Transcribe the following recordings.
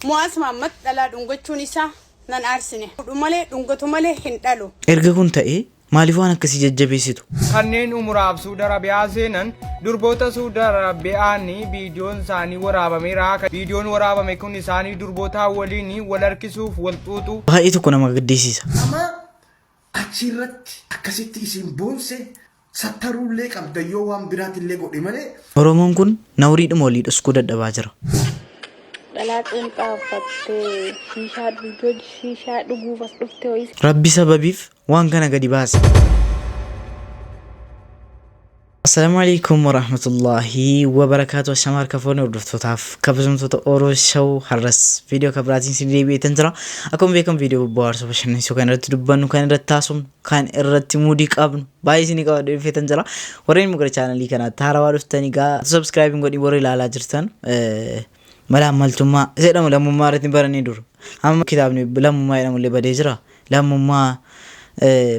Mu'aaz Mahammad dhalaa dhungachuun isaa nan aarsine. Fuudhu malee dhungatu malee hin dhalu. Erga kun ta'ee maaliif waan akkasii jajjabeessitu? Kanneen umuraaf Suud Arabiyaa seenan durboota Suud Arabiyaani viidiyoon isaanii waraabameera. Viidiyoon waraabame kun isaanii durbootaa waliin wal harkisuuf wal xuuxu. Baay'ee tokko nama gaddisiisa. Amaa Achi irratti akkasitti isin boonse sattaruu illee qabdan yoo waan biraati illee godhe malee. Oromoon kun nawriidhuma olii dhoskuu dadhabaa jira. Dhalaa qeenxaa uffattee shiishaa dhuujoo shiishaa dhuguuf as dhufte ho'isa. Rabbi sababiif waan kana gadi baase. Assalamu alaikum warahmatullahi wabarakatuh Ashama harka fooni hordoftootaaf kabajamtoota Oro Show har'as viidiyoo kan biraatiin sin deebi'eetan jira akkuma beekamu viidiyoo bohaarsoo bashannansiisuu kan irratti dubbannu kan irratti taasifnu kan irratti muudii qabnu baay'ee isin qaba dhufeetan jira warreen immoo gara chaanalii kanaatti haarawaa dhuftanii gaa subscribe hin godhin warri ilaalaa jirtan mala ammaltummaa jedhamu lammummaa irratti baranii duru amma kitaabni lammummaa jedhamu illee badee jira lammummaa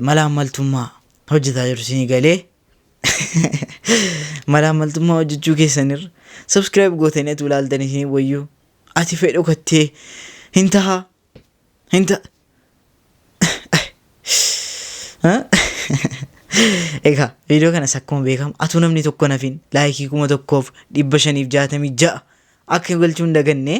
mala ammaltummaa hojjetaa jiru isin galee Malaammaltummaa hojjechuu keessanirra subscribe gootanii atuu ilaaltan isin wayyuu ati fee dhokattee hin taha hin ta Egaa viidiyoo kanas akkuma beekamu atuu namni tokko nafin laayikii kuma tokkoof dhibba shaniif jaatamii ja'a akka galchuun dagannee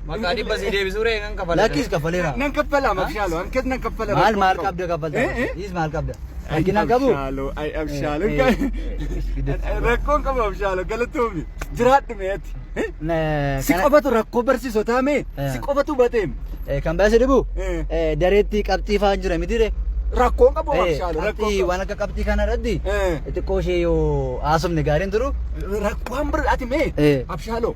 Maqaa dhibba sii deebisuu ree kan kafala. Lakkis kaffaleera. Nan kaffala mabshaaloo ankas nan kaffala. Maal maal qabda kaffalta? Dhiis maal qabda? Rakkina qabu? Abshaaloo ay abshaaloo. Rakkoon qabu abshaaloo galatoomi. Jiraadhu mee ati. Si qofatu rakkoo barsiisotaa mee si qofatu bateem. Kan baay'ee dhibu dareetti qabxii fa'aan jira miti ree. Rakkoon qabu abshaaloo rakkoon Qabxii qabu. waan akka qabxii kana irratti xiqqoo ishee yoo haasofne gaariin turu. Rakkoon bir ati mee Eh. abshaaloo.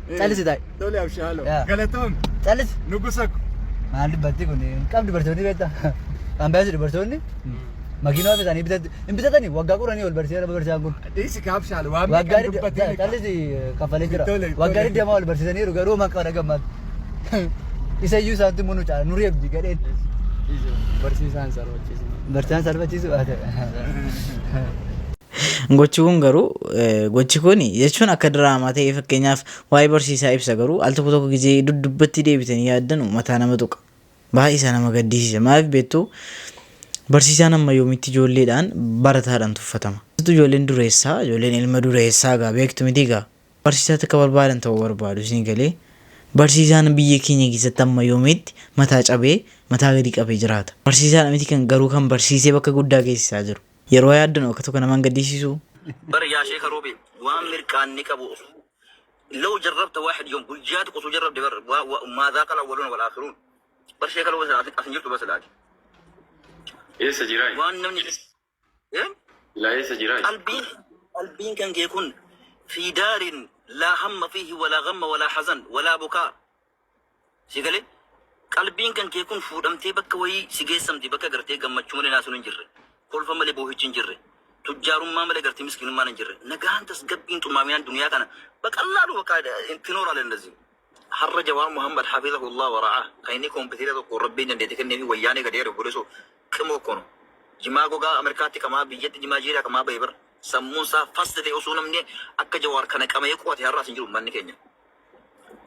Callisi taa'e. Tole abshii haaloo. Yaa. Galatoom. Callisi. Nugusa ko. Maal dubbatti kun hin qabdu dubartoonni beekta. Ambaasi dubartoonni makiinaa ofi isaanii bitatti hin bitatani waggaa qoranii ol barsiisa nama barsiisaan kun. Dhiisi ka abshii haaloo. Waan Waggaa meeqan didda dubbatiin. callisi kaffalee jira. Tole, tole. Waggaa digdama ol barsiisaniiru garuu homaa qaba dhagammaatti. Isa iyyuu isaantu munu caala nu reebdi gadheen. Barsiisaan sarbachiisu. Barsiisaan salphachiisu. Gochi kun garuu gochi kun jechuun akka diraamaa ta'ee fakkeenyaaf waa'ee barsiisaa ibsa garuu al tokko tokko gizee duddubbatti deebitanii yaaddanu mataa nama tuqa. Baay'ee isaa nama gaddisiisa. Maaliif beektuu barsiisaan amma yoomitti ijoolleedhaan barataadhaan tuffatama. Keessattuu ijoolleen dureessaa ijoolleen ilma dureessaa gaa beektu miti gaa barsiisaa takka barbaadan ta'uu barbaadu isin galee barsiisaan biyya keenya keessatti amma yoomitti mataa cabee mataa gadi qabee jiraata. Barsiisaadha miti kan garuu kan barsiisee bakka guddaa geessisaa jiru. Yeroo yaaddan oka tokko naman gaddisiisuu. Bar yaa sheeka Roobe waan mirqaanni qabu oso Law jarrabta waaxid yoom guyyaa tokko osoo jarrabde bar waa waa maa zaaqal awwaluuna wal aakhiruun bar sheeka Roobe silaa as hin jirtu bar silaa ati Eessa jiraa? waan namni Eh? Silaa eessa jiraa? qalbiin qalbiin kan kee kun fi daarin laa hamma fiihi walaa gamma walaa hazan walaa bukaa Sii galee? Qalbiin kan kee kun fuudhamtee bakka wayii si geessamti bakka gartee gammachuu malee naasuun hin jirre, kolfa malee boohichi hin jirre, tujjaarummaa malee gartee miskiinummaan hin jirre, nagaan tasgabbiin xumaaminaan duniyaa kana baqallaalu bakka tinooraalee indazii. Har'a Jawaar Muhammad Hafizahullah wa Ra'aah kan inni kompiteera tokko Rabbiin dandeetti kenneefi wayyaanee gadi ari'u godhe so qimoo akkoo no. Jimaa gogaa Ameerikaatti qamaa biyyatti jimaa jiiraa qamaa bahe bar sammuun isaa fast ta'e osoo namni akka Jawaar kana qama'ee qo'ate har'aas hin jiru ummanni keenya.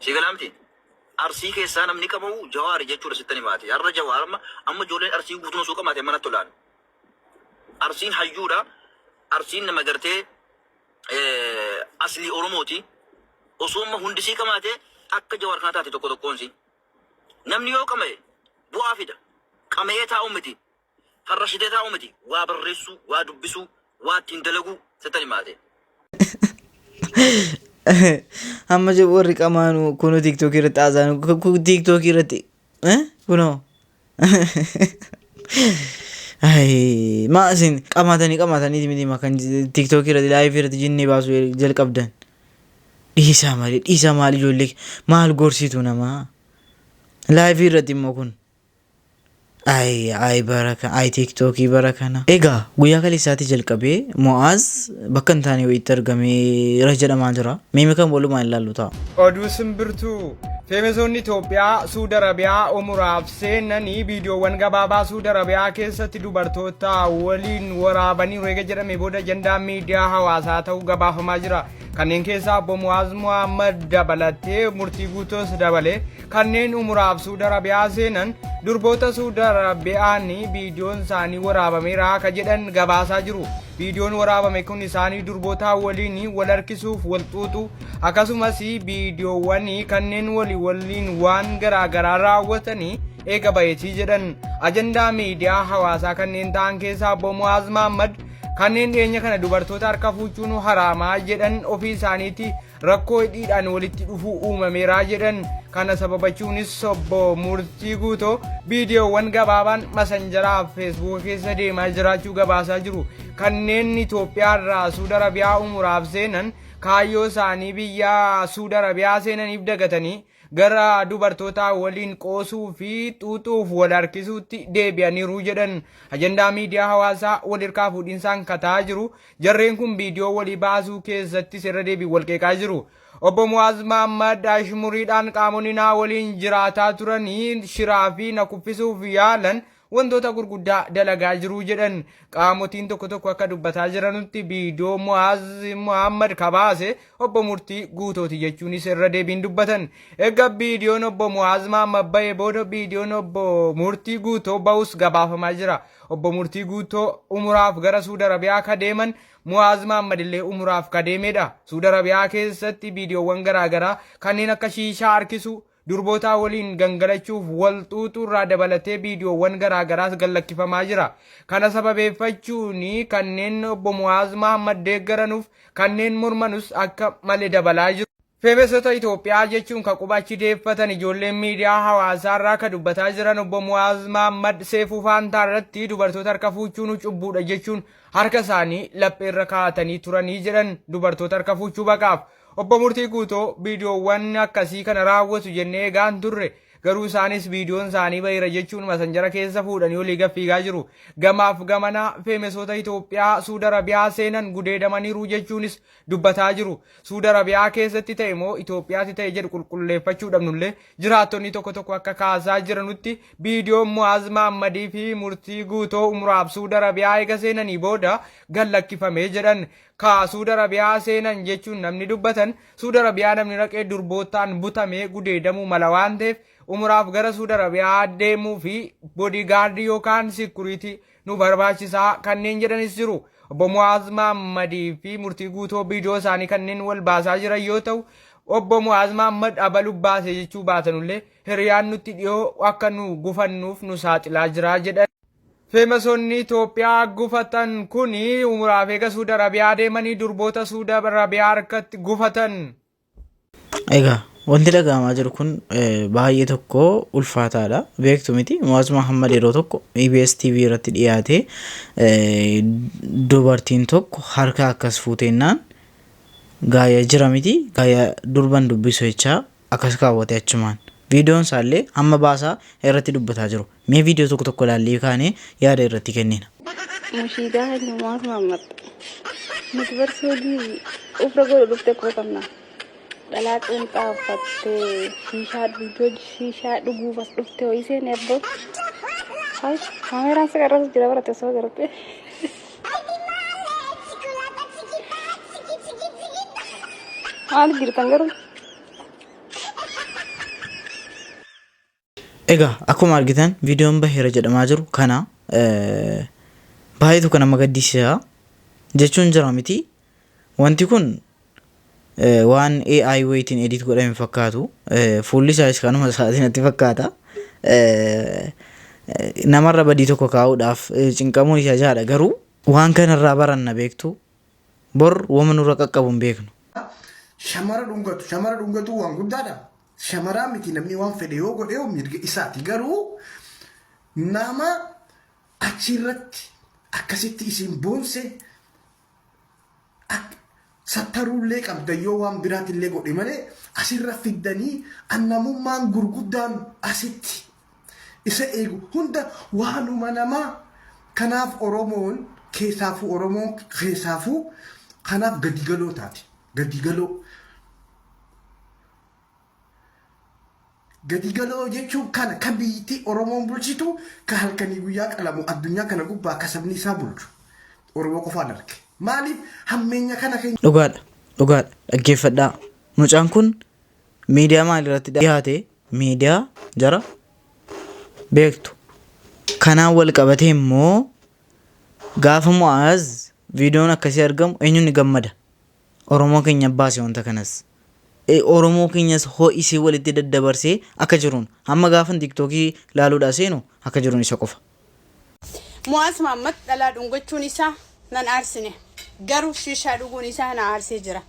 Sii galaa miti? Arsii keessaa namni qabamu Jawaari jechuudha sittan himaati. Har'a Jawaar amma amma ijoolleen Arsii guutuun osoo qamaate manatti olaanu. Arsiin hayyuudha. Arsiin nama gartee eh, aslii Oromooti. Osoo amma hundi sii qamaate akka Jawaar kana taate tokko tokkoon sii. Namni yoo qama'e bu'aa fida. Qama'ee taa'u miti. Farra shitee taa'uu miti waa barreessuu, waa dubbisuu, waa ittiin dalaguu settan himaate. Amma je- warri qamaanu kunuu tiiktookii irratti haasaan tiiktookii irratti eh, kunoo. Ayii, maa isin qamaatanii qamaatanii miti maa kan tiiktookii irratti laayivii irratti jinnii baasuu jalqabdan. Dhiisaa malee dhiisaa maal ijoollee maal gorsiitu namaa. Laayivii irratti immoo kun Ay ay bara kana ay tiiktookii bara kana. Egaa guyyaa kaleessaatii jalqabee Mo'aaz bakka hin taane wayiitti argameera jedhamaa jira. Mee kan walumaan ilaallu ta'a. Oduu simbirtuu Feemesoonni Itoophiyaa Suud Arabiyaa umuraaf seenanii viidiyoowwan gabaabaa Suud Arabiyaa keessatti dubartoota waliin waraabaniiru eega jedhame booda ajandaa miidiyaa hawaasaa ta'uu gabaafamaa jira. Kanneen keessaa obbo Muwaaz Muhammad dabalatee murtii guutoos dabalee Kanneen umuraaf Suud Arabiyaa seenan durboota Suud Arabiyaan viidiyoon isaanii waraabameera akka jedhan gabaasaa jiru. Viidiyoon waraabame kun isaanii durbootaa waliin wal harkisuuf wal xuuxu akkasumas viidiyoowwan kanneen walii waliin waan garaagaraa raawwatanii eega bayeetii jedhan ajandaa miidiyaa hawaasaa kanneen ta'an keessaa obbo Mu'aaz Mahaammad kanneen dhiyeenya kana dubartoota harka fuuchuun haraamaa jedhan ofii isaaniitii rakkoo hidhiidhaan walitti dhufuu uumameeraa jedhan kana sababachuunis obbo Murtii Guutoo viidiyoowwan gabaabaan masanjaraa fi feesbuuka keessa deemaa jiraachuu gabaasaa jiru kanneen Itoophiyaa irraa Suud Arabiyaa umuraaf seenan kaayyoo isaanii biyya Suud Arabiyaa seenaniif dagatanii gara dubartootaa waliin qoosuu fi xuuxuuf wal harkisuutti deebi'aniiru jedhan. Ajandaa miidiyaa hawaasaa wal hirkaa fuudhinsaan kataa jiru. Jarreen kun viidiyoo walii baasuu keessattis irra deebiin wal qeeqaa jiru. Obbo Mu'aaz Mahammad ashmuriidhaan qaamonni naa waliin jiraataa turanii shiraa fi na kuffisuuf yaalan wantoota gurguddaa dalagaa jiru jedhan qaamotiin tokko tokko akka dubbataa jiranutti viidiyoo Mu'aaz Muhammad kabaase obbo Murtii guutooti jechuunis irra deebiin dubbatan. Egaa viidiyoon obbo Mu'aaz Muhammad ba'ee booda viidiyoon obbo Murtii guutoo ba'us gabaafamaa jira. Obbo Murtii guutoo umuraaf gara Suud Arabiyaa ka deeman Mu'aaz Muhammad illee umuraaf ka deemedha. Suud Arabiyaa keessatti viidiyoowwan garaagaraa kanneen akka shiishaa harkisuu Durbootaa waliin gangalachuuf wal xuuxuurraa dabalatee viidiyoowwan garaagaraas gallakkifamaa jira. Kana sababeeffachuun kanneen obbo Mu'aaz Mahaammad deeggaranuuf kanneen mormanus akka male dabalaa jiru. Feemesota Itoophiyaa jechuun ka quba achi deeffatan ijoolleen miidiyaa hawaasaarraa ka dubbataa jiran obbo Mu'aaz Mahaammad Seefuu Faantaarratti dubartoota harka fuuchuun cubbuudha jechuun harka isaanii lapheerra kaa'atanii turanii jedhan dubartoota harka fuuchuu baqaaf Obbo Murtii Guutoo, Viidiyoowwan akkasii kana raawwatu jennee eegaa hin turre. Garuu isaanis viidiyoon isaanii baheera jechuun masanjara keessa fuudhanii olii gad fiigaa jiru. Gamaaf gamana feemesoota Itoophiyaa Suud Arabiyaa seenan gudeedamaniiru jechuunis dubbataa jiru. Suud Arabiyaa keessatti ta'e moo Itoophiyaatti ta'e jedhu qulqulleeffachuu dhabnullee jiraattonni tokko tokko akka kaasaa jiranutti viidiyoon Mu'aaz Mahammadii fi Murtii Guutoo umraaf Suud Arabiyaa eega seenanii booda gad lakkifame jedhan. kaa suuda rabiyaa seenan jechuun namni dubbatan suuda rabiyaa namni raqee durboottaan butamee gudeedamuu mala waan ta'eef umuraaf gara suuda rabiyaa deemuu fi bodii gaardii yookaan sikuriitii nu barbaachisaa kanneen jedhanis jiru. Obbo Mu'aaz Maammadii fi murtii guutoo biidiyoo isaanii kanneen wal baasaa jiran yoo ta'u obbo Mu'aaz Maammad abalu baase jechuu baatanullee hiriyaan nutti dhiyoo akka nu gufannuuf nu saaxilaa jira jedhan. Feemasonni Itoophiyaa gufatan kun umuraaf eega Suud Arabiyaa deemanii durboota Suud Arabiyaa harkatti gufatan. Egaa wanti dhaga'amaa jiru kun baay'ee tokko ulfaataadha. Beektu miti Mu'aaz Muhammad yeroo tokko EBS TV irratti dhiyaatee dubartiin tokko harka akkas fuuteennaan gaaya jira miti gaaya durban dubbisu jechaa Akkas kaawwate achumaan. Viidiyoon isaallee hamma baasaa irratti dubbataa jiru. Mee viidiyoo tokko tokko ilaallee kaanee yaada irratti kennina. Mushiidaa keenya maaf maammatta? Nuti bar suudii ufra godhu dhufte quba qabna. Dhalaa qeenxaa uffattee shiishaa dhuguu shiishaa dhuguuf as dhufte ho'iseen eebboo. Kaameraan si qarrasa jira barate osoo garte. Maaliif jirtan garuu? Egaa akkuma argitan viidiyoon baheera jedhamaa jiru kana eh, baay'eetu kan nama gaddisiisa jechuun jira miti Wanti kun waan AI wayitiin edit godhame hin fakkaatu. Fuulli isaas kanuma isaatiin natti fakkaata. Namarra badii tokko kaa'uudhaaf cinqamuun isa jaadha garuu waan kanarraa baranna beektu bor wama nurra qaqqabu hin beeknu. Shamara dhungatu shamara dhungatu waan guddaadha. Shamaraa miti namni waan fedhe yoo godhe yoo mirga isaati garuu nama achi irratti akkasitti isin boonse At sattaruullee qabda yoo waan biraatillee godhe malee asirra fiddanii an namummaan gurguddaan asitti isa eegu hunda waanuma namaa kanaaf oromoon keessaafuu oromoon keessaafuu kanaaf gadigaloo taate gadigaloo Gadi galoo jechuun kana ka biyyittii Oromoon bulchitu ka halkanii guyyaa qalamu addunyaa kana gubbaa ka sabni isaa bulchu Oromoo qofaan arge. Maaliif hammeenya kana keenya. Dhugaadha dhugaadha dhaggeeffadhaa mucaan kun miidiyaa maalirratti dhiyaate miidiyaa jara beektu kanaan wal qabatee immoo gaafa mu'aaz viidiyoon akkasii argamu eenyuun ni gammada Oromoo keenya baase wanta kanas. Oromoo keenyas ho'isee walitti daddabarsee akka jiruun hamma gaafan tiiktookii laaluudhaa seenu akka jiruun isa qofa. Mu'aaz Mahaammad dhalaa dhungachuun isaa nan aarsine. Garuu shiishaa dhuguun isaa na aarsee jira.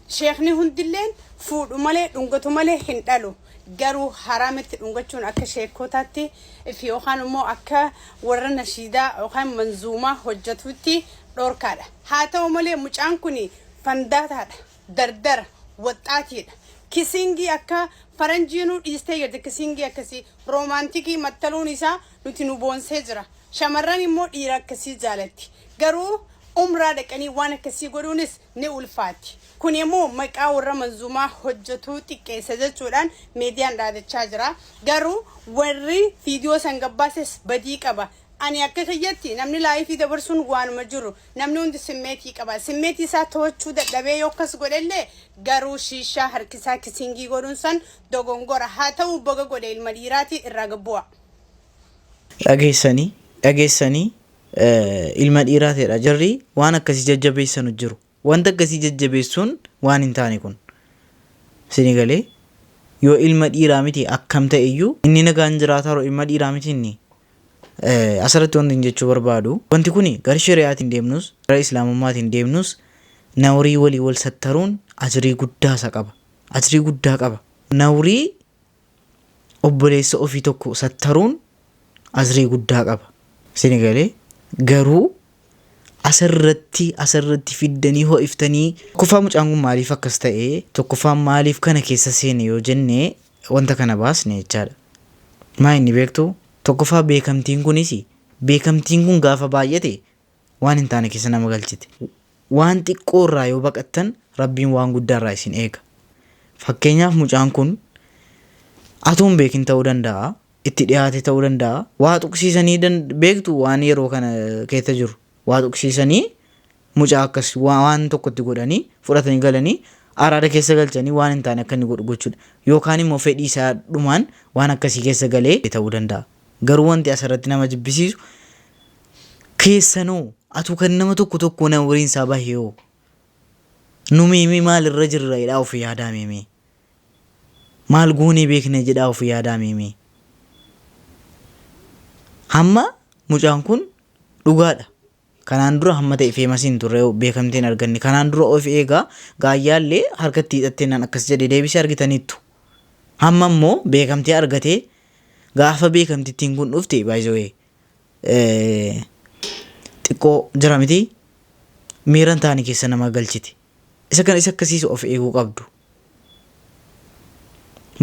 Sheekni hundilleen fuudhu malee dhungatu malee hin dhalu. Garuu haraama itti dhungachuun akka sheekkootaatti fi yookaan immoo akka warra nashiidaa yookaan manzuumaa hojjatuutti dhorkaadha. Haa ta'u malee mucaan kun fandaataadha, dardara, waxxaatiidha. Kisiingii akka faranjiinuu dhiistee jirti. Kisiingii akkasii, roomaantikii mattaluun isaa nuti nu boonsee jira. Shamarran immoo dhiira akkasii jaalatti. Garuu umraa dhaqanii waan akkasii godhuunis ni ulfaatti. Kuni immoo maqaa warra manzuumaa hojjetuu xiqqeessa jechuudhaan miidiyaan dhaadachaa jira. Garuu warri viidiyoo san gabbaases badii qaba. Ani akka kiyyatti namni laayifii dabarsuun waanuma jiru. Namni hundi simmeetii qaba. Simmeetii isaa to'achuu dadhabee yoo akkas godhe illee garuu shiishaa harkisaa kisingii godhuun san dogongora. Haa ta'uu baga godhe ilma dhiiraati irraa gad bu'aa. Dhageessanii dhageessanii ilma dhiiraa ta'edha jarri waan akkasii jajjabeessanu jiru wanta akkasii jajjabeessuun waan hin taane kun sini galee yoo ilma dhiiraa miti akkam ta'e iyyuu inni nagaan jiraataa jiru ilma dhiiraa miti inni Eh, asirratti wanti hin jechuu barbaadu wanti kun gara shari'aatiin deemnus gara islaamummaatiin deemnus nawrii walii wal sattaruun ajrii guddaa isa qaba ajrii guddaa qaba nawrii obboleessa ofii tokko sattaruun asrii guddaa qaba. Sini galee garuu asirratti asirratti fiddanii ho'iftanii tokkoffaa mucaan kun maaliif akkas ta'e tokkoffaa maaliif kana keessa seene yoo jenne wanta kana baasne jechaadha. Maa inni beektu tokkoffaa beekamtiin kunis beekamtiin kun gaafa baay'ate waan hin taane keessa nama galchiti. Waan xiqqoo irraa yoo baqattan Rabbiin waan guddaa irraa isin eega. Fakkeenyaaf mucaan kun atuu hin beekin ta'uu danda'a, itti dhiyaate ta'uu danda'a, waa tuqsiisanii dan- beektu waan yeroo kana keessa jiru. Waa tuqsiisanii mucaa akkas waa- waan tokko itti godhanii fudhatanii galanii araada keessa galchanii waan hin taane akka inni godhu gochuudha. Yookaan immoo fedhii isaa dhumaan waan akkasii keessa galee ta'uu danda'a. Garuu wanti asirratti nama jibbisiisu Keessano atu kan nama tokko tokko nama umriin isaa bahe hoo nu meemee maal irra jirra jedhaa of yaadaa meemee maal goonee beekna jedhaa of yaadaa meemee hamma mucaan kun dhugaadha kanaan dura hamma ta'e feemasiin turre beekamtiin arganne kanaan dura of eegaa gaayyaallee harkatti hidhattee nan akkas jedhe deebisee argitaniittu hamma immoo beekamtii argatee gaafa beekamtittiin kun dhufte baay'ee xiqqoo jira miti miiran taani keessa nama galchiti isa kan isa akkasiisu of eeguu qabdu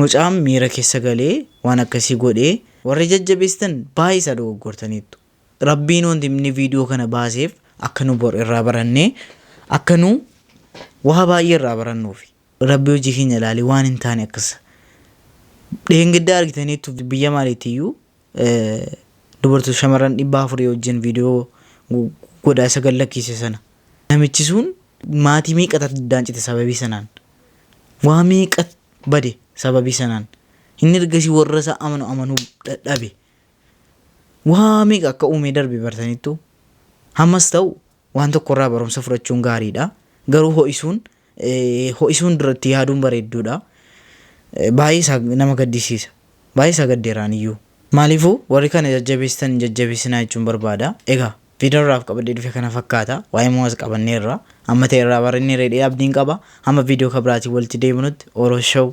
mucaan miira keessa galee waan akkasii godhee warri jajjabeessitan baay'ee isaa dogoggortaniittu rabbiin wanti inni viidiyoo kana baaseef akka nu bor irraa barannee akka nu waa baay'ee irraa barannuufi rabbi hojii keenya ilaalee waan hin taane akkas dheengaddaa argitaniittu biyya maaliitiyyuu dubartoota shamarran dhibba afurii wajjin viidiyoo godhaa isa gad lakkiise sana namichi sun maatii meeqatu addaan cite sababii sanaan waa meeqa bade sababii sanaan inni ergasii warra isaa amanu amanuu dadhabe waa meeqa akka uumee darbe bartaniittu hammas ta'u Waan tokko irraa barumsa fudhachuun gaariidha. Garuu ho'isuun ho'isuun dura itti yaaduun bareedduudha. Baay'ee isaa nama gaddisiisa. Baay'ee isaa gaddeera aniyyuu. Maaliifuu warri kana jajjabeessitan hin jajjabeessinaa jechuun barbaada. Egaa viidiyoon irraaf qabadhee dhufe kana fakkaata. Waa'ee Mu'aaz qabanneerra. Amma ta'e irraa baranneerra jedhee abdiin qaba. Hamma viidiyoo kan biraatiin walitti deebinutti Oro Show.